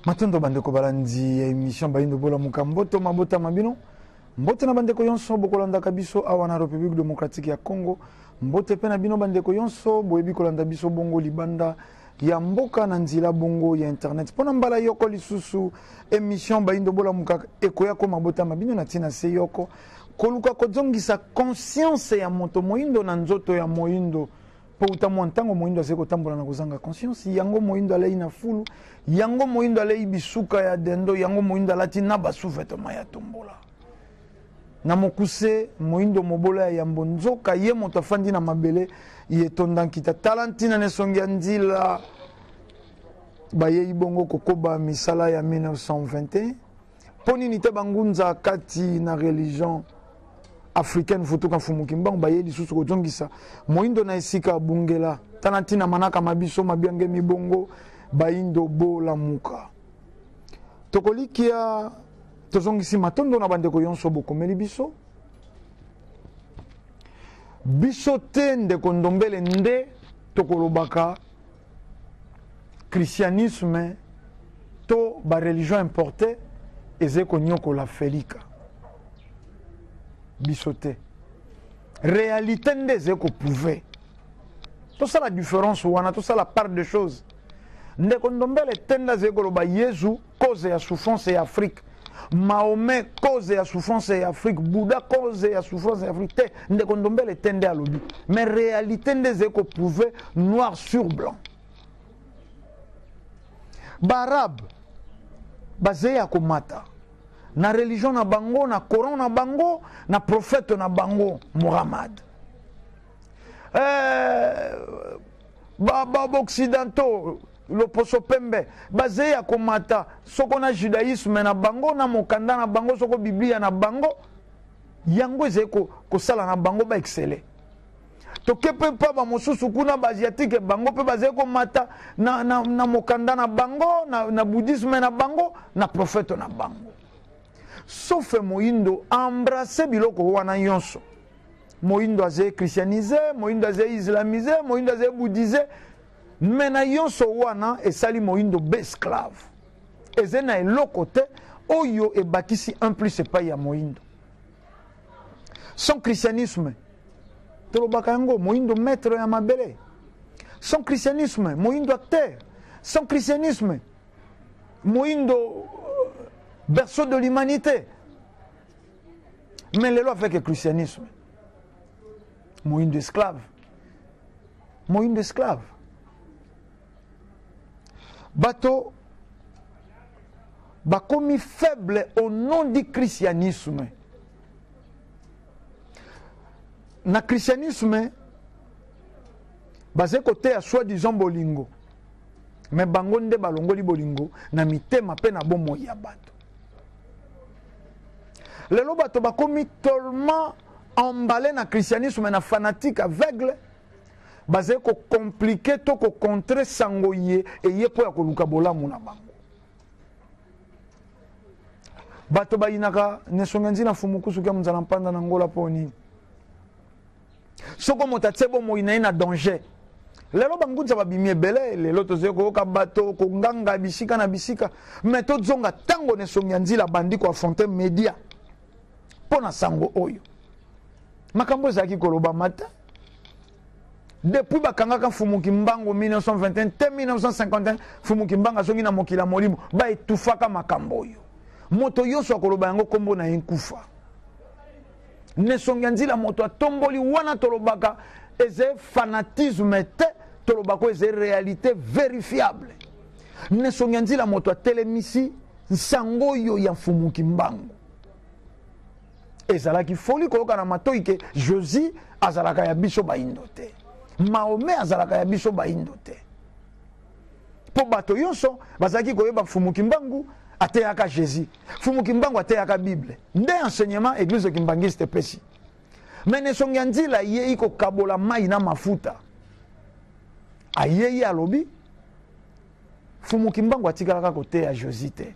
matondo bandeko balandi ya emission bayindo bola mokamboto mabota ma bino mbote na bandeko yonso bokolandaka biso awa na république démocratique ya congo mbote mpe na bino bandeko yonso boyebi kolanda biso bongo libanda ya mboka na nzela bongo ya internet mpo na mbala yoko lisusu emission bayindo bolamuka ekoya ko mabota ma bino na ntina se yoko koluka kozongisa conscience ya moto moyindo na nzoto ya moyindo mpo uta mwa ntango moindo azali kotambola na kozanga conscience yango moindo alei na fulu yango moindo alei bisuka ya dendo yango moindo alati na basuvetema ya tombola na mokuse moindo mobola ya yambo nzoka ye moto afandi na mabele ye etonda nkita tala ntina na esongi ya nzila bayei bongo kokoba misala ya 1921 Mpo nini te bangunza kati na religion africaine futuka mfumu kimbangu baye lisusu kozongisa moindo na esika abungela tana ntina manaka mabiso mabiangemi bongo baindo bolamuka tokolikia tozongisi matondo na bandeko yonso bokomeli biso biso te ndeko ndombele nde tokolobaka christianisme to ba religion importe ezali konyokola felika biso te réalité nde ezali koprouve tosala différence wana tosala part de chose ndeko ndombele tenda azali koloba yezu cause ya souffrance ya afrique mahomet cause ya souffrance ya afrique bouddha cause ya souffrance ya afrique te ndeko ndombele te nde alobi mais réalité nde ezali koprouve noir sur blanc baarabe bazali ya komata na religion na bango na coran na bango na prophète na bango muhammad euh, Ba ba occidentaux loposo pembe baze ya komata soko na judaïsme na bango na mokanda na bango soko biblia na bango yango ezali kosala na bango ba excele toke mpe mpa bamosusu kuna baasiatike bango mpe bazali komata na, na, na mokanda na bango na, na bouddhisme na bango na profete na bango sofe moindo embrase biloko wana nyonso moyindo aza echristianise moyindo aza islamise moyindo aza ebouddhise me na yonso wana esali moyindo besclave eza na eloko te oyo ebakisi un plus epai ya moyindo son christianisme tolobaka yango moyindo maître ya mabele son christianisme moyindo acteur son christianisme moyindo euh, berceau de l'humanité mais lelo avec christianisme moyindo esclave moyindo esclave bato bakomi faible au nom du christianisme na christianisme bazali koteya soi disant bolingo me bango nde balongoli bolingo na mitema mpe na bomoi ya bato lelo bato bakomi tellement emballé na christianisme na fanatique aveugle bazali kocomplike to kocontre sango ye eye mpo ya koluka bolamu na bango bato bayinaka nesongenzi na fumukusuki ya monzala mpanda na ngola mpo nini soko moto atie bomoi na ye na danger lelo bangunza babimi ebele lelo tozali koyoka bato konganga bisika na bisika me tozonga ntango na esongi ya nzila bandi koafronte media mpo na sango oyo makambo ezalaki kolobama te depuis bakangaka mfumu kimbangu 1921 te 1951 mfumu kimbangu azongi na mokili ya molimo baetufaka makambo oyo moto yonso akoloba yango nkombo na ye nkufa nesongi ya nzila moto atomboli wana tolobaka ezali fanatisme te tolobaka oyo ezali réalité vérifiable nesongi ya nzila moto atelemisi nsango oyo ya mfumu kimbangu ezalaki foli koyoka na matoi ke jésus azalaka ya biso baindo te mahome azalaka ya biso baindo te mpo bato yonso bazalaki koyeba mfumu kimbangu ateyaka jésus mfumu kimbangu ateyaka bible nde enseignement eglise kimbangiste epesi me na esongi ya nzila ayei kokabola mai na mafuta ayei alobi mfumu kimbangu atikalaka koteya josi te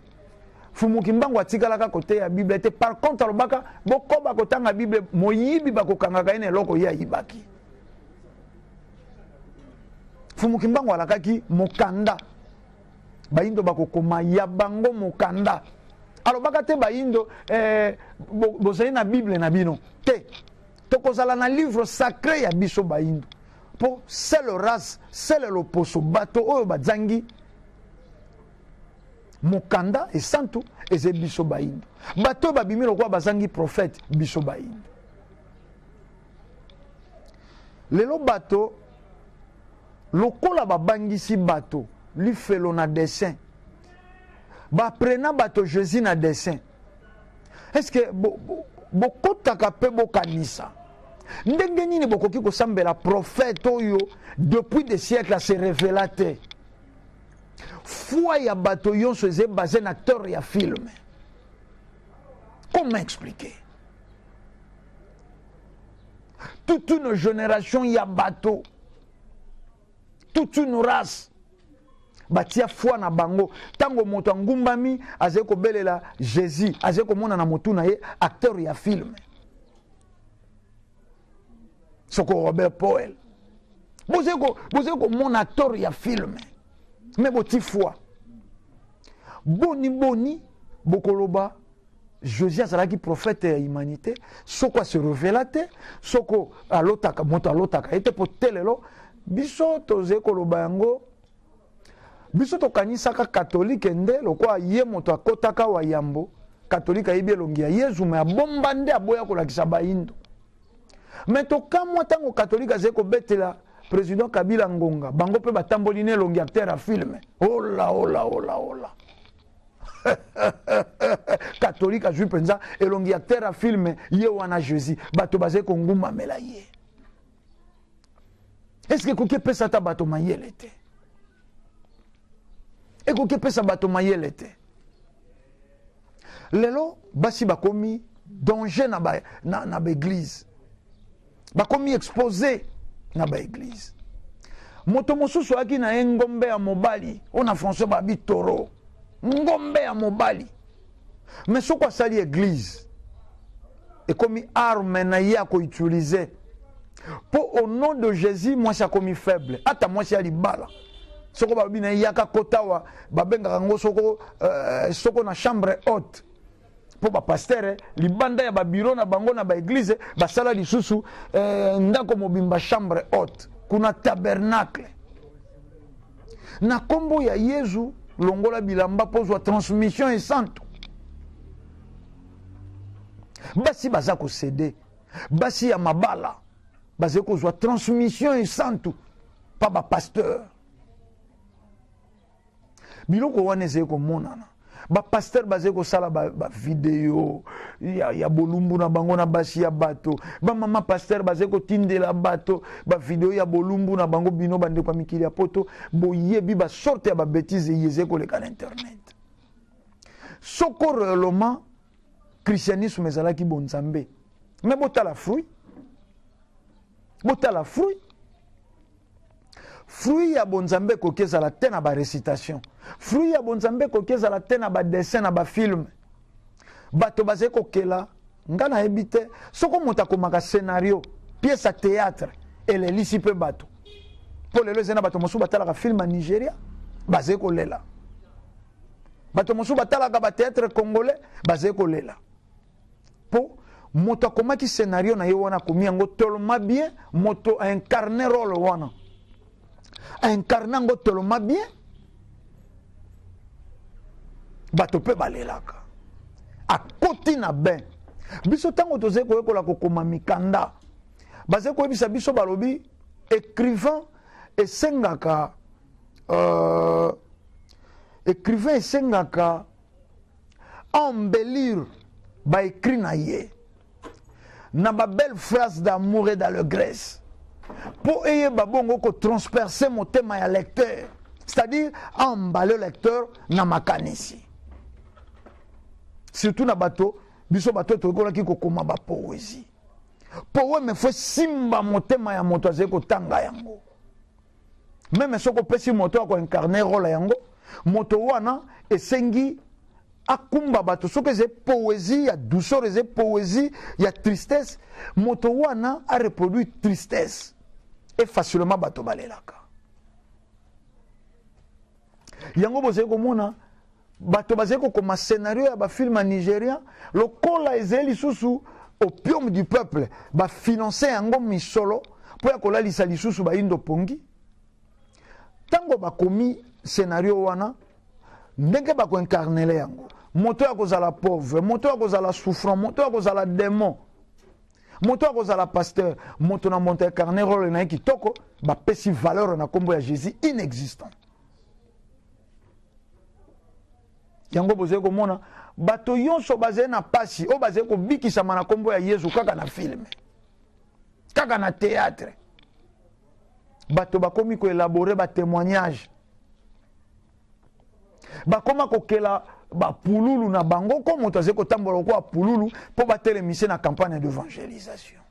mfumu kimbangu atikalaka koteya bible te par contre alobaka bokoba kotanga bible moyibi bakokangaka ye na eloko ye ayibaki Fumu Kimbangu alakaki mokanda bayindo bakokoma ya bango mokanda alobaka te bayindo eh, bozali na bible na bino te tokozala na livre sacré ya biso bayindo mpo sele race sele loposo bato oyo bazangi mokanda esantu ezali biso bayindo bato oyo babimi lokola bazangi profete biso bayindo lelo bato lokola babangisi bato lifelo na dessin baprena bato jésus na dessin estce bokotaka bo, bo mpe bokanisa ndenge nini bokoki kosambela profete oyo depuis des siècles se revela te foi ya bato yonso eza ebase na acteur ya filme comment expliquer toute une génération ya bato toute une race batia foi na bango ntango moto angumbami azali kobelela jésus azali komona na motu na ye acteur ya filme soko robert poel bozali komona acteur ya filme me boti foi boni boni bokoloba Josie azalaki prophète ya humanité soko se revela te soko alotaka moto alotaka ye te mpo te lelo biso tozali koloba yango biso tokanisaka katolike nde lokola ye moto akotaka wa yambo katolike ayebi elongi ya yezu me abomba nde aboya kolakisa bayindo me tokamwa ntango katolike azali kobetela président kabila ngonga bango mpe batamboli na elongi acteur ya filme ola ola ola ola katolike azwi mpenza elongi ya terra filme ye wana jésus bato bazali kongumbamela ye eske ekoki epesa ata bato mayele te ekoki epesa bato mayele te lelo basi bakomi danger na baeglize bakomi expose na baeglize moto mosusu ayaki na ye ngombe ya mobali oyo na français babi toro ngombe ya mobali me soko asali eglize ekomi arme na ye akoutilize mpo au nom de jésus mwasi akomi faible ata mwasi ya libala soko balobi na ye yaka kotawa babengaka yango soko, uh, soko na chambre haute mpo bapastere libanda ya babiro na bango na baeglize basala lisusu eh, ndako mobimba chambre haute kuna tabernacle na nkombo ya yezu longola bilamba mpo ozwa transmission esantu basi baza kosede basi ya mabala bazali kozwa transmission esantu pa bapasteur biloko wana ezali komonana bapastere bazali kosala bavideo ba ya, ya bolumbu na bango na basi ya bato bamama pastere bazali kotindela bato bavideo ya bolumbu na bango bino bandeko ya mikili ya poto boyebi basorte ya babetize eye ezali koleka na internet soko reellement christianisme ezalaki bonzambe me botala fruit botala fruit fruit ya bonzambe ekoki ezala te na barecitation fruit ya bonzambe ekoki ezala te na badessin na bafilme bato bazali kokela ngai nayebi te soko moto akomaka scenario pièce ya théâtre elelisi mpe bato mpo lelo ezali na bato mosusu batalaka filme ya nigeria bazali kolela bato mosusu batalaka bateatre congolais bazali kolela Po moto akomaki scenario na ye wana akomi yango toloma bien moto a incarne role wana a incarne yango toloma bien bato mpe balelaka akoti na bain biso ntango tozali koyekola kokoma mikanda bazali koyebisa biso balobi écrivain esengaka euh, écrivain esengaka a embellir ba écrit na ye na ba belle phrase d'amour et d'allegresse mpo eyeba bongo kotransperse motema ya lecteur c'est-à-dire embale lecteur na makanisi surtout na bato biso bato toyekolaki kokoma bapoezi poeme fo esimba motema ya moto azali kotanga yango meme soki opesi moto ya koincarne role yango moto wana esengi akumba bato soki eza poésie ya douceur eza poésie ya tristesse moto wana areproduire tristesse e facilement bato balelaka yango bozali komona bato bazali kokoma scenario ya bafilme ya nigeria lokola ezali lisusu opium du peuple bafinanse yango misolo mpo ya kolalisa lisusu bayindo pongi ntango bakomi scenario wana ndenge bakoinkarnele yango moto ya kozala pauvre moto ya kozala souffrant moto ya kozala demon moto akozala pasteur moto na moto ecarne role na ye kitoko bapesi valeur na nkombo ya jésus inexistant yango bozali komona bato nyonso bazali na mpasi oyo bazali kobikisama na nkombo ya yezu kaka na filme kaka na théâtre bato bakomi koelabore batémoignage bakoma kokela bapululu na bango ko moto azali kotambola lokola pululu mpo batelemise na campagne d'evangelisation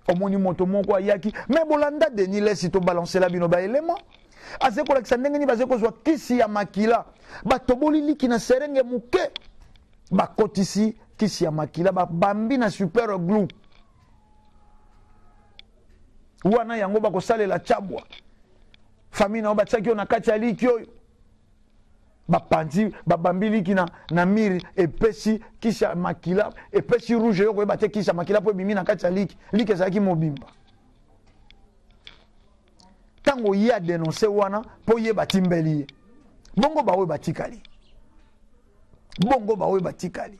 omoni moto moko ayaki me bolanda denis lesi tobalancela bino baelema azali kolakisa ndenge nini bazali kozwa kisi ya makila batoboli liki na serenge moke bakotisi kisi ya makila babambi na super glou wana yango bakosalela chabwa fami na yo batiaki yo na kati ya liki oyo bapanzi babambi liki na, na mire epesi kisi ya makila epesi rouge yo koyeba te kisi ya makila mpo ebimi na kati ya liki liki ezalaki mobimba ntango oye adenonse wana mpo ye batimbeli ye bongo baoyo batikali bongo baoyo batikali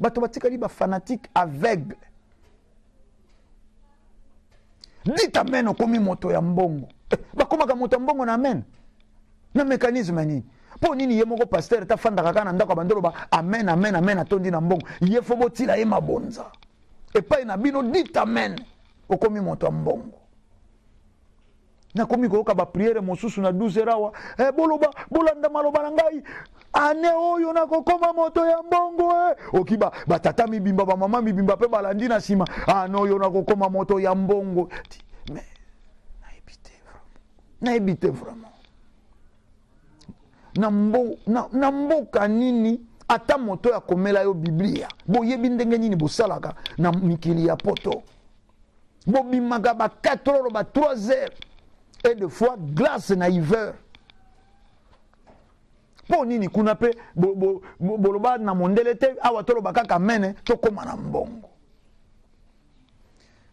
bato batikali bafanatike aveugle dit amen okomi moto ya mbongo eh, bakomaka moto ya mbongo na amen na mécanisme nini mpo nini ye moko pastere tafandaka kaka na ndako ya bandolo ba amen amen amen atondi na mbongo ye fo botila ye mabonza epai na bino dit amen okomi moto ya mbongo nakomi koyoka bapriere mosusu na 12 heure awa eh, boloba bolanda maloba na ngai ane oyo nakokoma moto ya mbongo eh. oki batata ba mibimba bamama mibimba mpe balandi na nsima ane oyo nakokoma moto ya mbongo nayebi te nayebi te vraiment na, mbo, na, na mboka nini ata moto ya komela yo biblia boyebi ndenge nini bosalaka na mikili ya poto bobimaka ba 4 heures ba 3 heures et de fois glace na hiver mpo nini kuna mpe boloba na mondele te awa toloba kaka mene tokóma na mbongo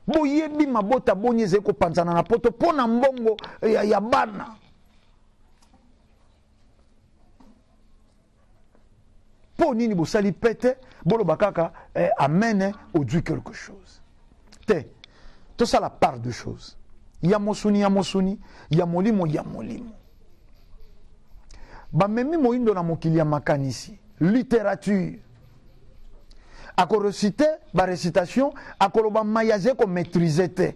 boyebi mabota boni ezali kopanzana na poto mpo na mbongo ya, ya bana mpo nini bosali pete boloba kaka eh, amene eh, ozwi quelque chose te tosala part de chose ya mosuni ya mosuni ya molimo ya molimo bamemi moindo na mokili ya makanisi littérature akorecite barecitation akoloba mai aza komaîtrise te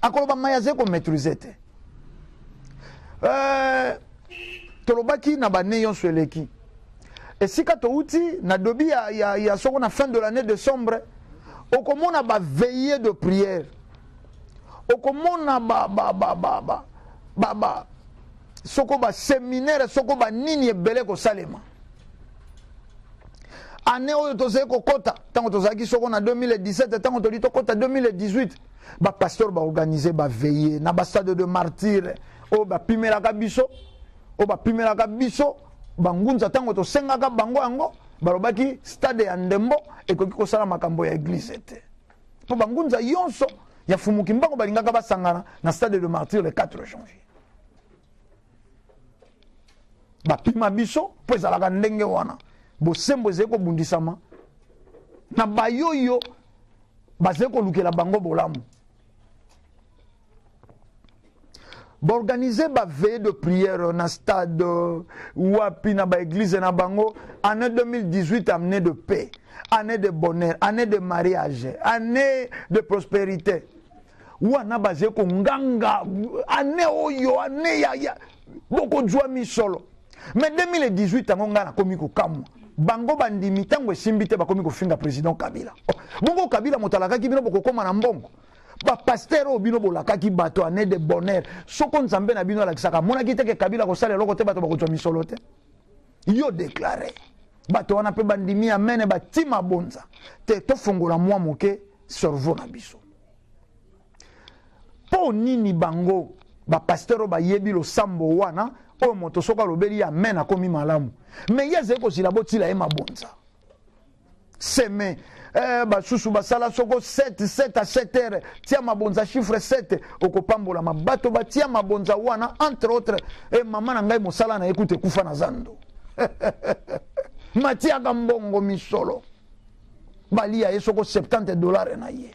akoloba mai azali komaitrise te euh, tolobaki na bane yonso eleki esika touti na dobi ya, ya, ya soko na fin de l'année décembre okomona baveille de prière okomona ba, ba, ba, ba, ba, ba, ba, soko baseminaire soko banini ebele kosalema ane oyo tozali kokɔta ntango tozalaki soko na 2017 ntango toli tokɔta 2018 bapasteur baorganize baveye na bastade de martyre oyo bapimelaka biso oyo bapimelaka biso bangunza ntango tosengaka bango yango balobaki stade ya ndembo ekoki kosala makambo ya eglize te mpo bangunza yonso ya fumuki mbango balingaka basangana na stade de martyre le 4 janvier bapima biso mpo ezalaka ndenge wana bosembo ezali kobundisama na bayoyo bazali kolukela bango bolamu baorganize baveye de prière na stade euh, wapi na baeglize na bango année 2018 année de paix année de bonheur année de mariage année de prospérité wana baze konganga ane oyo ane ya, ya bokozwa misolo me 2018 yango ngai nakomi kokamwa bango bandimi ntango esimbi te bakomi kofinga président kabila oh, bongo kabila moto alakaki bino bokokoma na mbongo bapaster oyo bino bolakaki bato ane de bonheur soko nzambe na bino alakisaka amonaki teke kabila kosala eloko te bato bakozwa misolo te yo deklare bato wana mpe bandimi amene batima bonza te tofongola mwa moke cerveau na biso mpo nini bango bapasteur oyo bayebi losambo wana oyo moto soki alobeli ye amen akomi malamu me ye azali kozila botila ye mabonza seme eh, basusu basala soko 7 7 a 7 heure tia mabonza chiffre 7 okopambolama bato batia mabonza wana entre autre e eh, mama na ngai mosala na ye kuta ekufa na zando matiaka mbongo misolo balia ye soko 70 dollars na ye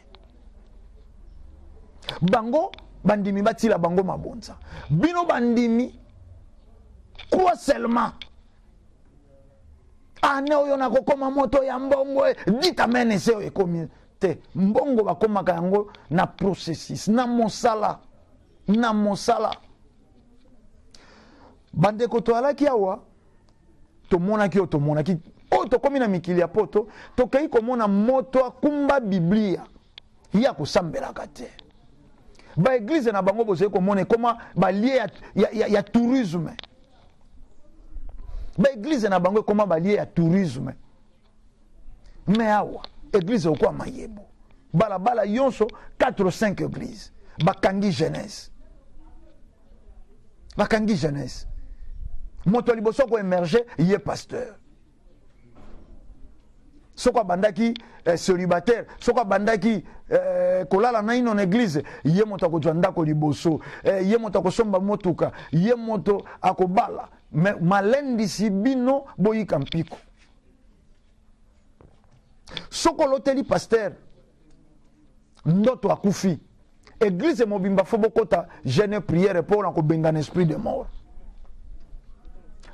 bango bandimi batila bango mabonza bino bandimi quoi seulement ane oyo nakokoma moto ya mbongo e, ditamene se oyo ekomi te mbongo bakomaka yango na processus na mosala na mosala bandeko toalaki awa tomonaki oyo tomonaki oyo tokomi na mikili ya poto tokei komona moto akumba biblia ye akosambelaka te baeglize na bango bozali komona ekoma balie ya, ya, ya, ya tourisme baeglize na bango ekoma balie ya tourisme me awa eglize okwa mayebo balabala yonso 4 ou 5 eglize bakangi jeunesse bakangi jeunesse moto ya liboso koemerge ye pasteur soko abandaki eh, célibataire soko abandaki eh, kolala naino na eglize ye moto akozwa ndako liboso eh, ye moto akosomba motuka ye moto akobala malendisi bino boyika mpiko soki oloteli pasteur ndoto akufi eglize mobimba fo bokota jeune priere mpo na kobengana esprit de mort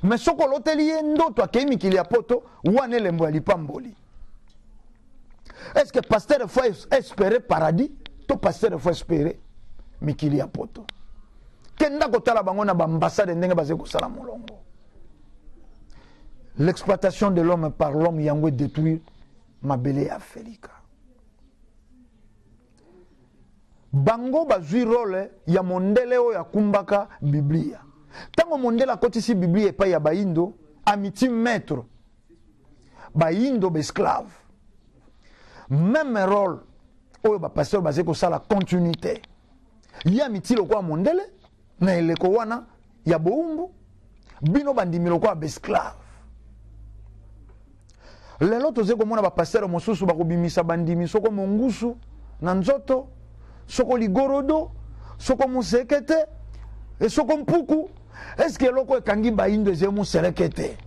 me soki oloteli ye ndoto akei mikili ya poto wana elembo ya lipamboli est ce que pasteur efo espere paradis to pasteur efo espere mikili ya poto kenda kotala bango na baambasade ndenge bazali kosala molongo l'exploitation de l'homme par l'homme yango edétruire mabele ya afrika bango bazwi role ya mondele oyo akumbaka biblia ntango mondele akotisi biblia epai ya baindo amiti maître baindo baesclave meme role oyo bapasteur bazali kosala continuité ye amiti lokola mondele na eleko wana ya bowumbu bino bandimi lokola baesclave lelo tozali komona bapastere mosusu bakobimisa bandimi soko mongusu na nzoto soko ligorodo soko mosekete esoko mpuku eske eloko ekangi baindo ezali moseleke te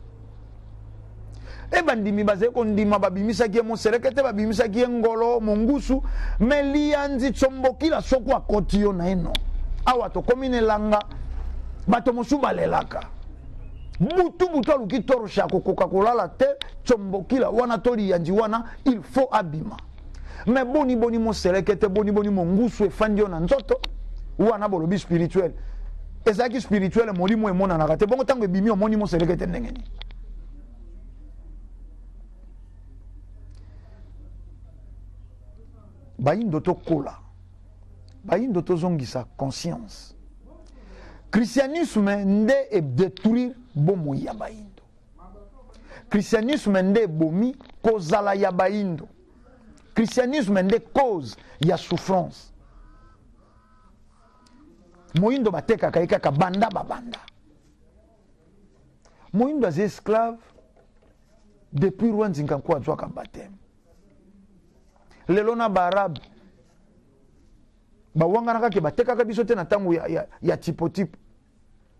e bandimi bazali kondima babimisaki ye moseleke te babimisaki ye ngolo mongusu me liyanzi tsombokila soko akoti yo naino awa tokomi na elanga bato mosusu balelaka butu butu aluki toroshe akokoka kolala te tsombokila wana to liyanzi wana il faut abima me boni boni moselekete boni boni mongusu efandi yo na nzoto wana bolobi spirituel ezalaki spirituel molimo emonanaka te bongo ntango ebimi omoni moselekete ndenge nini bayindo tokola bayindo tozongisa conscience christianisme nde edetruire bomoi ya bayindo christianisme nde ebomi kozala ya baindo christianisme nde cause ya souffrance moindo batekaka ye kaka banda babanda moindo aza esclave depuis roi nzinkanku azwaka bateme lelo na baarabe bawanganaka ke batekaka biso te na ntango ya, ya, ya tipotipo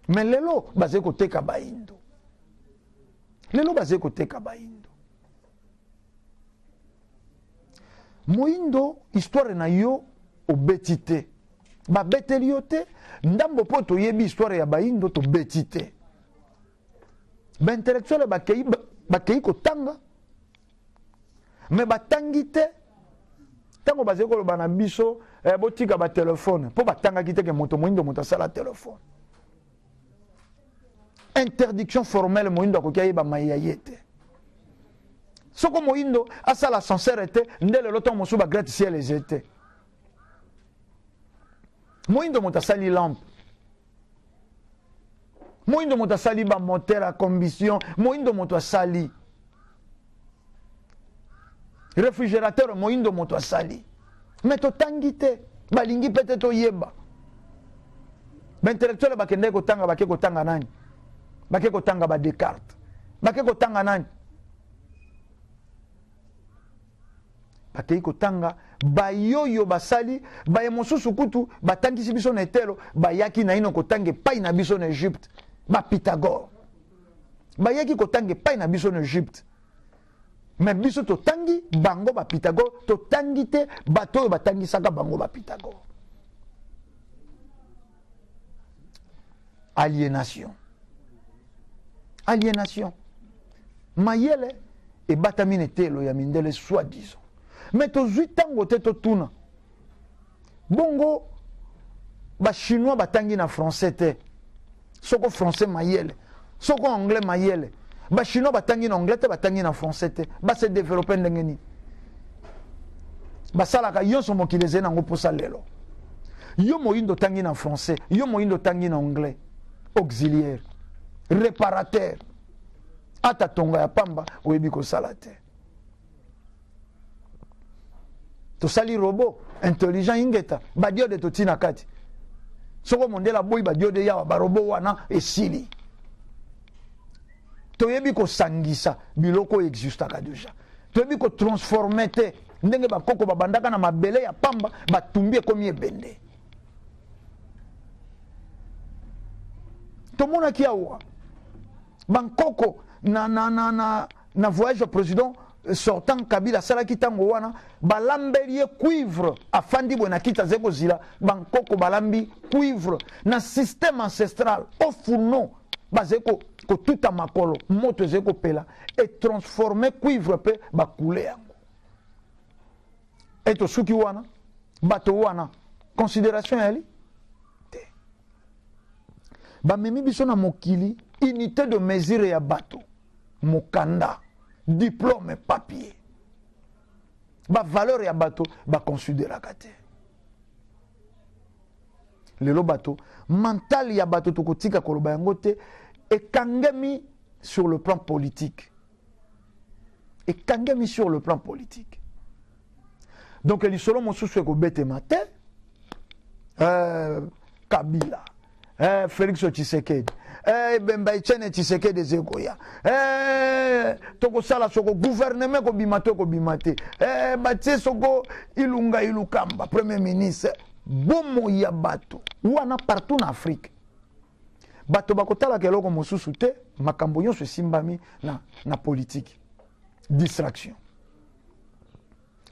me lelo bazali koteka baindo lelo bazali koteka baindo moindo histoire na yo obeti te babeteli yo te ndambo mpo toyebi histoire ya baindo tobeti te baintellectuele bakei bakei kotanga me batangi te ntango bazali koloba na biso eh, botika batelefone mpo batangaki te ke moto moindo moto asala telefone interdiction formelle moindo akoki ayeba mai ya ye te soko moindo asala ascenseur te nde lelo ntango mosusu bagrate ciel eze te moindo moto asali lampe moindo moto asali bamoteur ya combustion moindo moto asali réfrigérateur moindo moto asali me totangi te balingi mpe te toyeba baintellectuele bakendaki kotanga bake kotanga nani bake kotanga badescartes bake kotanga nani bakei kotanga bayoyo basali baye mosusu kutu batangisi biso na etelo bayaki naino kotanga epai na biso na egypte bapitagore bayaki kotanga epai na biso na egypte me biso totangi bango bapitagore totangi te bato oyo batangisaka bango bapitagore alienation alienation mayele ebatami na eteyelo ya mindele soi disant me tozwi ntango te totuna bongo bachinois batangi na français te soko français mayele soko anglais mayele bachinois batangi na anglais te batangi na français te base développe ndenge nini basalaka yonso mokili ezali nango mposa lelo yo moyindo otangi na français yo moyindo otangi na anglais auxiliaire réparateur ata tonga ya pamba oyebi kosala te tosali robot intelligent ingeta badiode totii na kati soko mondele aboyi badiode yawa barobo wana esili toyebi kosangisa biloko oyo existaka deja toyebi kotransforme te ndenge bakoko babandaka na mabele ya pamba batumbi ekomi ebende tomonaki awa bankoko na, na, na, na na voyage ya president sortant kabila asalaki ntango wana balambeli ye cuivre afandi boye na kiti azali kozila bankoko balambi cuivre na système ancestral au fourneau bazali kotuta makolo moto ezali kopela etransforme cuivre mpe bakule yango ete osuki wana bato wana considération yali te bamemi biso na mokili unité de mesure ya bato mokanda diplome papier bavaleur ya bato baconsideraka te lelo bato mentale ya bato tokotika koloba yango te ekangemi sur le plan politique ekangemi sur le plan politique donc lisolo mosusu ekobetema te eh, kabila eh, félix tshisekedi eh, ebemba etienne tshisekedi eza ekoya eh, tokosala soko guverneme ekobima to ekobima te eh, batie soko ilunga ilukamba premier ministre bomoi ya bato wana partout na afrique bato bakotalaka eloko mosusu te makambo nyonso esimbami na, na politiki distraction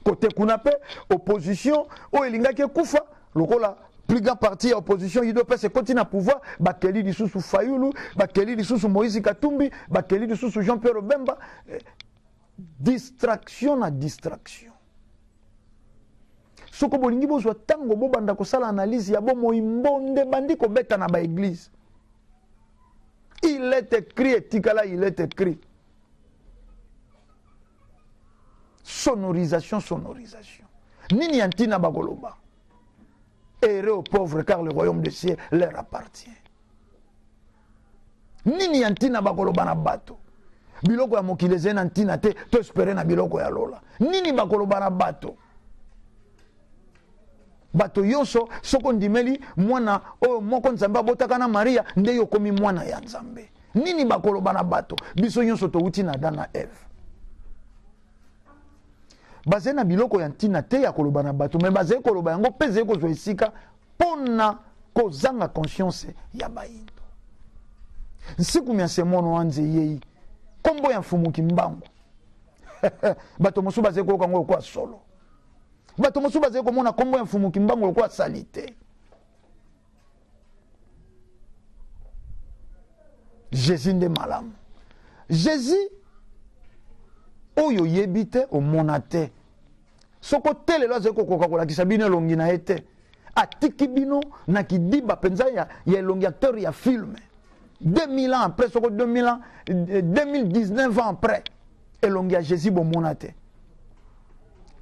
kote kuna mpe opposition oyo elingaki ekufa lokola plus grand parti ya opposition udps ekoti na pouvoir bakeli lisusu fayulu bakeli lisusu moïse katumbi bakeli lisusu jean pierre obemba eh, distraction na distraction soko bolingi bozwa ntango bobanda kosala analyse ya bomoi mbonde bandi kobeta na baeglize il est écrit etikala il est écrit sonorisation sonorisation nini ya ntina bakoloba heureux aux pauvres car le royaume de ciel leur appartient nini ya ntina bakoloba na bato biloko ya mokili ezali na ntina te to espere na biloko ya lola nini bakoloba na bato bato yoso soki ondimeli mwana oyo moko nzambe abotaka na maria nde yo okomi mwana ya nzambe nini bakoloba na bato biso nyonso towuti na adam na eve bazali na biloko ya ntina te ya koloba na bato me bazali koloba yango mpe ezali kozwa esika mpo na kozanga conscience ya bayindo nsiku mya semono wanze yei nkombo ya mfumuki mbangu bato mosusu bazali koyoka yango lokola solo bato mosusu bazali komona nkombo ya mfumu kimbangu lokola salite jésus nde malamu jésus oyo oyebi te omona te soko te lelo azali kokoka kolakisa bino elongi na ye te atiki bino na kidiba mpenza ya, ya elongi acteur ya filme 2000 ans après soko 2000 ans 2019 euh, ans après elongi ya jesus bomona te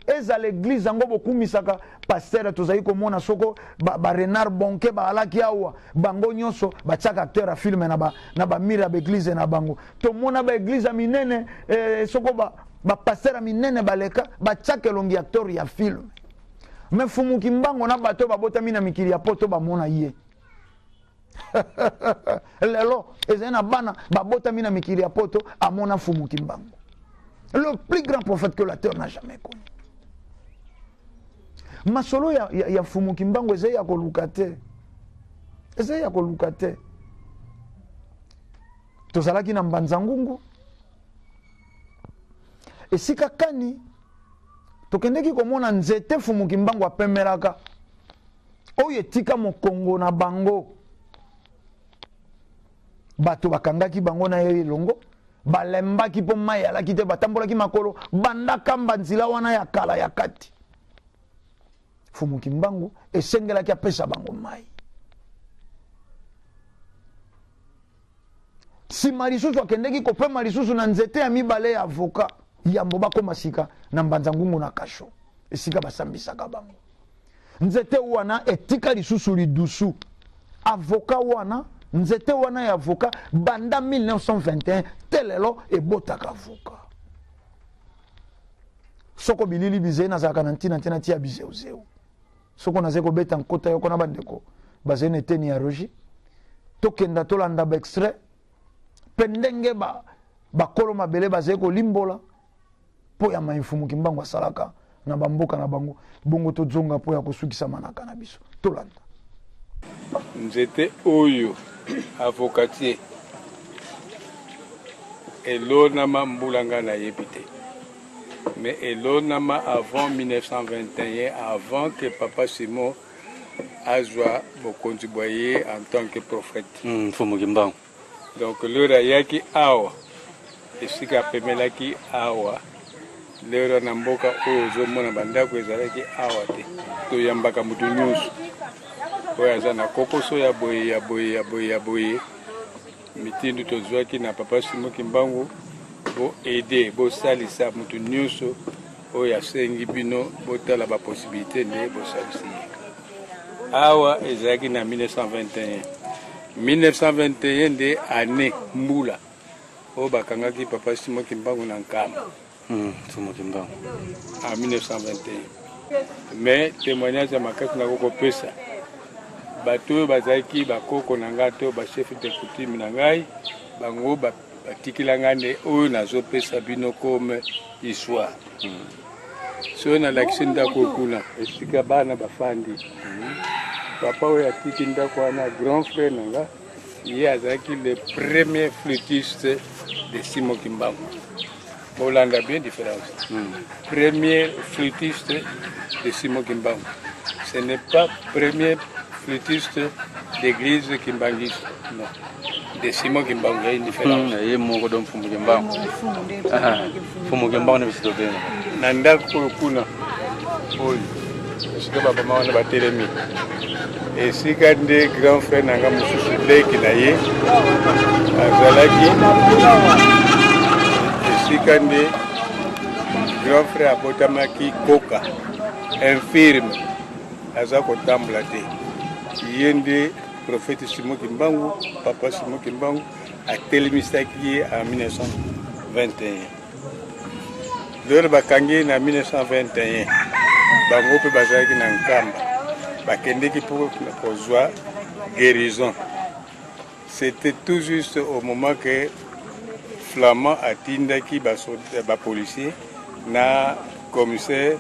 ezala eglize yango bokumisaka pastere tozali komona soko barenard ba bonke baalaki awa bango nyonso batiaka acteur ya filme na bamire ba ya baeglize na bango tomona baeglize ya minene eh, soko bapastere ba ya minene baleka batiaka elongi ya acteur ya filme me fumuki mbango na bato oyo babotami na mikili ya poto bamona ye lelo ezali na bana babotami na mikili ya poto amona fumu kimbangu le plus grand prophète que la terre n'a jamais connu masolo ya, ya, ya fumu kimbangu ezali ya koluka te ezali ya koluka te tozalaki na mbanza ngungu esika kani tokendeki komona nzete fumu kimbangu apemelaka oyo etika mokongo na bango bato bakangaki bango na ye elongo balembaki mpo mai alaki te batambolaki makolo banda kamba nzela wana ya kala ya kati fumu kimbangu esengelaki apesa bango mai Sima lisusu akendeki kopema lisusu na nzete ya mibale ya avoka, yambo bakoma sika na Mbanza Ngungu na kasho, esika basambisaka bango. Nzete wana etika lisusu lidusu. Avoka wana, nzete wana ya avoka, banda 1921 te lelo ebotaka avoka. Soko bilili bizeye nazalaka na ntina te natia bizeuzeu. soko nazali kobeta nkota yoko na bandeko bazali na eteni ya rogi tokenda tolanda baextrait mpe ndenge ba, bakolo mabele bazali kolimbola mpo ya maimfumuki mbango asalaka na bamboka na bango bongo tozonga mpo ya kosukisa manaka na biso tolanda nzete oyo avokatier elonama mbula ngai nayebi te mais elonama avant 1921 avant que papa simon azwa bokonzi bwa ye en tant que prophète hmm, mfumu kimbangu donc lero ayaki awa esika apemelaki awa lero na mboka oyo ozomona bandako ezalaki awa te toyambaka moto nyonso oyo aza na kokoso ya boye ya boye ya boye ya boye Mitindo tozwaki na Papa Simon Kimbangu, bo aider, bosalisa moto nyonso oyo asengi bino botala ba possibilité nde bosalisi ye awa ezalaki na 1921 1921 nde année mbula oyo bakangaki papa simo kimbangu na nkamba Hum, Nsumu Kimbangu. En 1921. Mais temoignage ya makasi na kokopesa bato oyo bazalaki bakoko na ngai to bachef de coutume na ngai bango batikela ngai nde oyo nazopesa bino comme histoire hmm. soki nalakisi ndako kuna esika bana bafandi hmm. papa oyo atiki ndako wana grand frère na ngai ye azalaki le premier flutiste de simo kimbangu bolanda bien différence mm. premier flutiste de simo kimbangu ce n'est pas premier flutiste d'église kimbangiste non de simo kimbangu ya une différence mm, ye moko don mfumu kimbangu Fumukemba wana biso tobenga na ndako oyo kuna oyo esika babama wana batelemi esika nde grand frère na nga mosusu leki na ye azalaki esika nde grand frère abotamaki koka infirme aza kotambola te ye nde profete simoki mbangu papa simoki mbangu atelemisaki ye en 1921 lelo bakangi ye na 1921 bango mpe bazalaki na nkamba bakendeki mpo kozwa guérison c'était tout juste au moment que flamand atindaki bapolicier na commissaire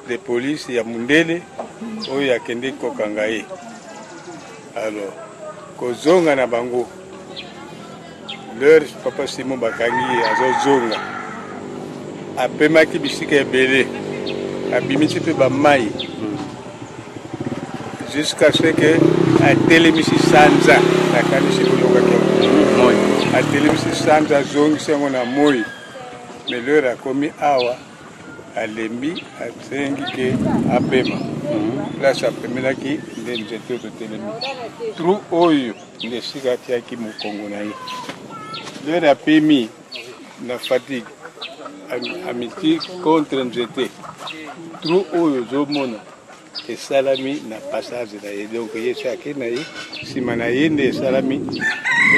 de police ya mundele oyo akendeki kokanga ye alors kozonga na bango leur papa simo bakangi ye azozonga apemaki bisika ebele abimisi mpe bamai jusqu'à ce que atelemisi sanza nakanisi boyokaki moi atelemisi sanza azongisi yango na moi mais leur akomi awa alembi asengi ke apema place apemelaki nde nzete oyo totelemi trou oyo Nde esika atiaki mokongo na ye. Lere apemi na fatigue amiti contre nzete trou oyo ozomona esalami na passage na ye donc ye se ake na ye nsima na ye nde esalami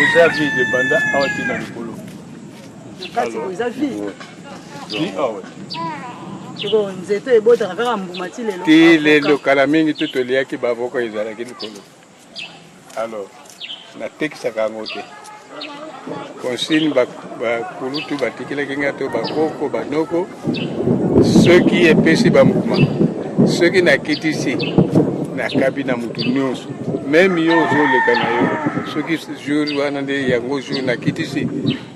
eza vide banda awa ti na likolo ti lelo kala mingi to toliaki bavoka ezalaki likolo Alors, natekisaka yango te consigne bakulutu ba batikelaki ngai to bakoko banoko soki epesi bambuma soki nakitisi nakabi na motu nyonso meme yo ozoleka na yo soki jour wana nde yango jour nakitisi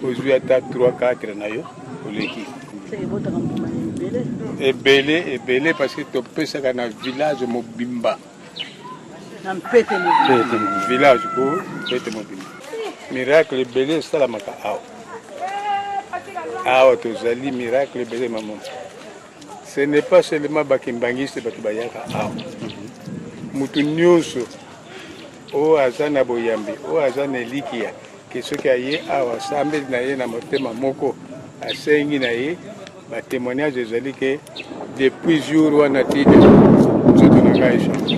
ozwi ata 3 4 na yo oleki ebele ebele parce que topesaka na village mobimba na mpete mobimba village ko mpete mobimba miracle ebele esalamaka awa awa tozali miracle ebele mamo ce n'est pas seulement bakimbangiste bato bayaka awa moto nyonso oyo aza na boyambi oyo aza na elikia Ke soki aye awa asambeli na ye na motema moko, asengi na ye ba témoignage ezali ke depuis jour wana ti nzoto na ngai echange.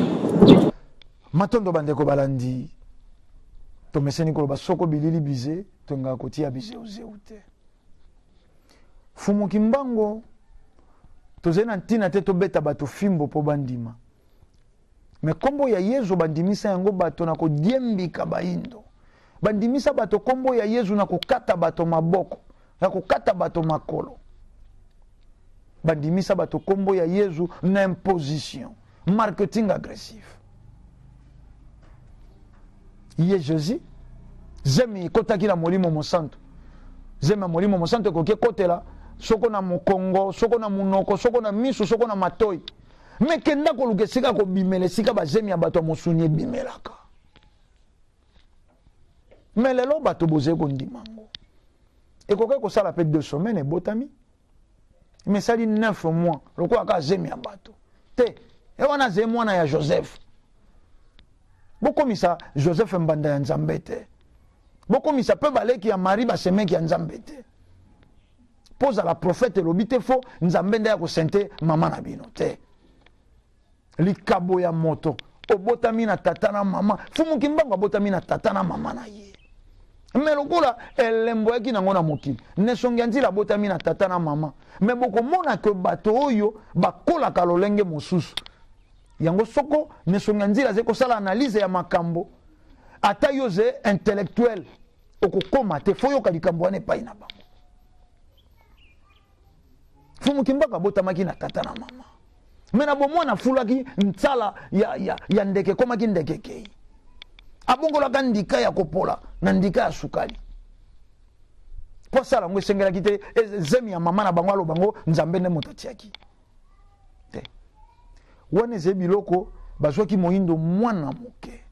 Matondo bandeko balandi, tomeseni koloba soko bilili bize tolingaka kotia bizeuzeu te. Fumu Kimbango tozali na ntina te tobeta bato fimbo mpo bandima me nkombo ya yezu bandimisa yango bato na kodiembika baindo bandimisa bato nkombo ya yezu na kokata bato maboko na kokata bato makolo bandimisa bato nkombo ya yezu na imposition marketing agressif ye jesus zemi ekotaki na molimo mosantu zemi ya molimo mosantu ekoki ekotela soko na mokongo soko na monoko soko na miso soko na matoi me kenda koluka esika kobimela esika bazemi ya bato ya mosuni ebimelaka me lelo bato bozali kondima yango ekokaki kosala mpe deux semaine ebotami me esali neuf mois lokola kaka zemi ya bato te e wana azali mwana ya joseph bokomisa joseph mbanda ya nzambe te bokomisa mpe baleki ya marie basemeki ya nzambe te mpo zala profete elobi te fo nzambe nde ya kosente mama na bino te likabo ya moto obotami na tata na mama fumu kimbangu abotami na tata na mama na ye me lokola elembo yaki nango na mokili nesongi ya nzila abotami na tata na mama me bokomona ke bato oyo bakolaka lolenge mosusu yango soko nesongi ya nzila azali kosala analyse ya makambo ata yo ze intellectuel okokoma te fo yoka likambo wana epai na bango fumu kimbaka abotamaki na tata na mama me na bomwana afulaki nsala ya, ya, ya ndeke ekomaki ndeke ekei abongolaka ndika ya kopola na ndika ya sukali mpo asala yango esengelaki te e, zemi ya mama na bango aloba yango nzambe nde moto atiaki te wana ezali biloko bazwaki moyindo mwana moke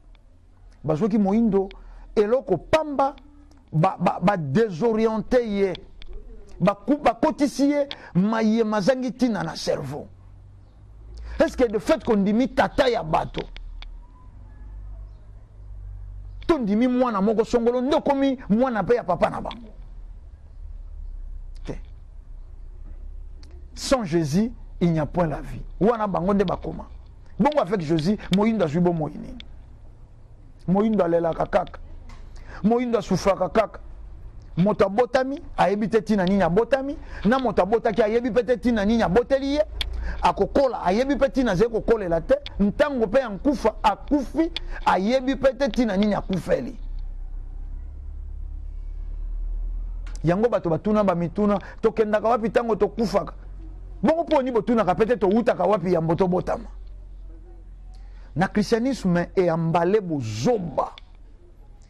bazwaki moyindo eloko pamba badesoriente ba, ba ye bakotisi ye maye mazangi ntina na cerveau est ce que de fait kondimi tata ya bato tondimi mwana moko songolo nde okomi mwana mpe ya papa na bango te sans jésus il n'y a point la vie wana bango nde bakoma bongo avec jésus moyindo azwi bomoi nini moyindo alelaka kaka moyindo asufraka kaka moto abotami ayebi te ntina nini abotami na moto abotaki ayebi mpe te ntina nini aboteli ye akokola ayebi mpe ntina azali kokolela te ntango mpe ya nkufa akufi ayebi mpe te ntina nini akufeli yango bato batuna bamituna tokendaka wapi ntango tokufaka bongo mpo oni botunaka mpe te towutaka wapi yambo tobotama na christianisme eyambale bozoba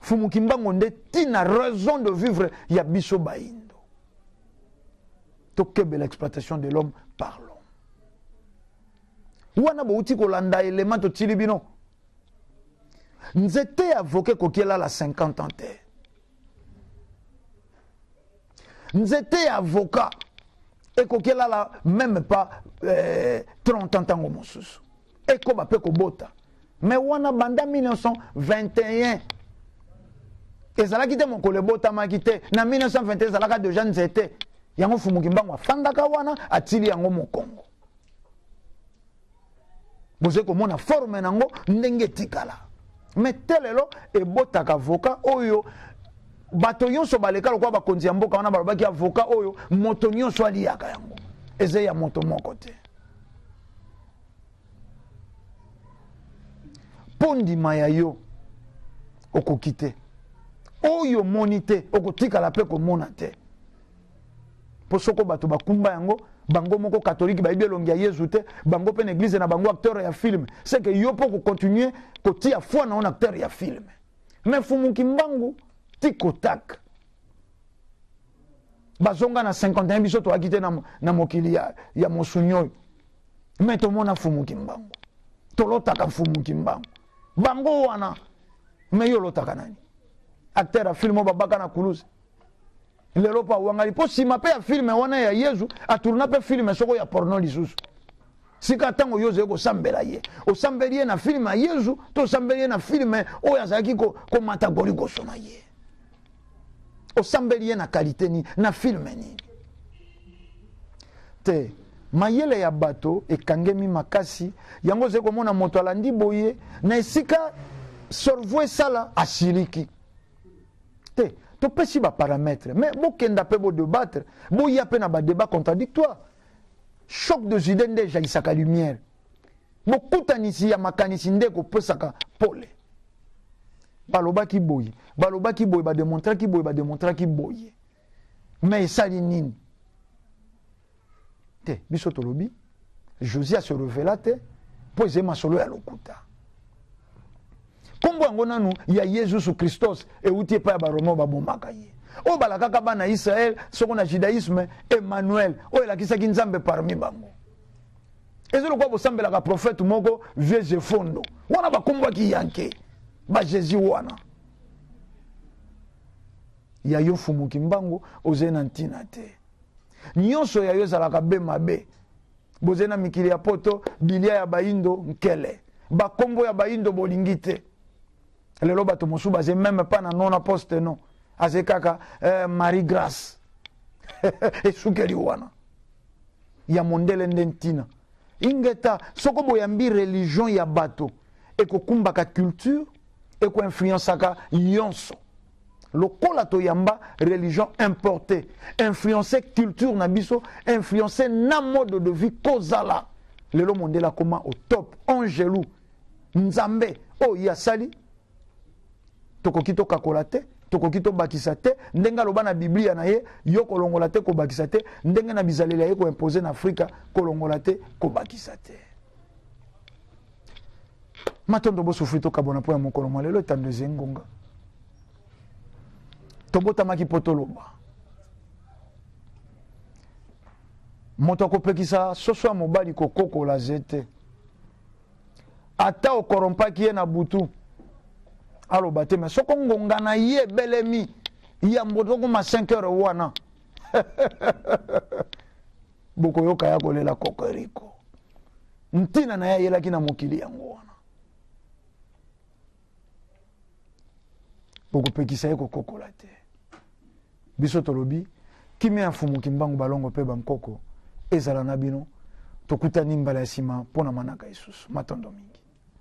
Mfumu Kimbangu nde tina raison de vivre ya biso bayindo. Tokebela exploitation de l'homme par l'homme. Wana bouti kolanda element totili bino. Nzete ya voke kokiela la 50 ans te. Nzete ya avocat ekoki elala meme pas eh, 30 ans ntango mosusu Ekoba mpe kobota. Mais wana banda 1921 ezalaki te mokolo ebotamaki te na 1921 ezalaka deja nzete yango fumu kimbangu afandaka wana atili yango mokongo bozali komona forme na yango ndenge etikala me te lelo ebotaka avoka oyo bato nyonso baleka lokola bakonzi ya mboka wana balobaki avoka oyo moto nyonso aliyaka yango eza ya moto moko te mpo ndima ya yo okoki te oyo omoni te okotikala mpe komona te mpo soko bato bakumba yango bango moko katolike bayebi elongi ya yezu te bango mpe na eglize na bango acteur ya filme seke yo mpo kokontinue kotia foi na yo na acteur ya filme me fumuki mbangu tikotaka bazonga na 51 biso toyaki te na, na mokili ya, ya mosuni oyo me tomona mfumu kimbangu tolotaka mfumu kimbangu bango wana me yo olotaka nani acteur ya filme oyo babaka na kuluse lelo mpo awangani mpo nsima mpe ya filme wana ya yezu atourna mpe filme soko ya porno lisusu sika ntango yo ozali kosambela ye osambeli ye na filme ya yezu to osambeli ye na filme oyo azalaki komata ko goligoso na ye osambeli ye na kalite nini na filme nini te mayele ya bato ekangemi makasi yango ozali komona moto alandi boye na esika sorvo esala asiliki te topesi baparametre mais bokenda mpe bodebattre boya mpe na badebat contradictoire choc des idées nde ejaisaka lumière bokutanisi ya makanisi nde ekopesaka pole balobaki boye balobaki boye bademontraki boye bademontraki boye me esali nini te biso tolobi josia se revela te mpo ezali masolo ya lokuta nkombo yango nanu ya yesus kristos euti epai ya baroma oyo babomaka ye oyo balakaka bana israele soko na judaisme emmanuel oyo elakisaki nzambe parmi bango eza lokola bosambelaka profete moko vieux jefondo wana bakombwaki yanke bajezi wana ya yo mfumu kimbangu ozali na ntina te nyonso ya yo ezalaka be mabe Bozali na mikili ya poto bilia ya bayindo nkele bakombo ya bayindo bolingi te lelo bato mosusu baze meme pa na nona poste no aze kaka eh, marie grace esukeli wana ya mondele nde ntina ingeta soko boyambi religion ya bato ekokumbaka culture ekoinfluensaka yonso lokola toyamba religion importe influence culture na biso influence na mode de vie kozala lelo mondele akoma au top angelu nzambe oyo ye asali tokoki tokakola te tokoki tobakisa te ndenge aloba na biblia na ye yo kolongola te kobakisa te ndenge na bizaleli ya ye koimpose na afrika kolongola te kobakisa te matondo bosufri tokabwana mpo ya mokolo mwa lelo etando eze ngonga tobotamaki mpo toloba moto akopekisa soso ya mobali kokokola ze te ata okorompaki ye na butu aloba te me soko ngonga na ye ebelemi yambo tokoma 5 heure wana bokoyoka ya kolela kokoriko ntina na ye ayelaki na mokili yango wana bokopekisa ye kokokola te biso tolobi kimia ya fumu kimbangu balongo mpe bankoko ezala na bino tokutani mbala ya nsima mpo na manaka lisusu matondo mingi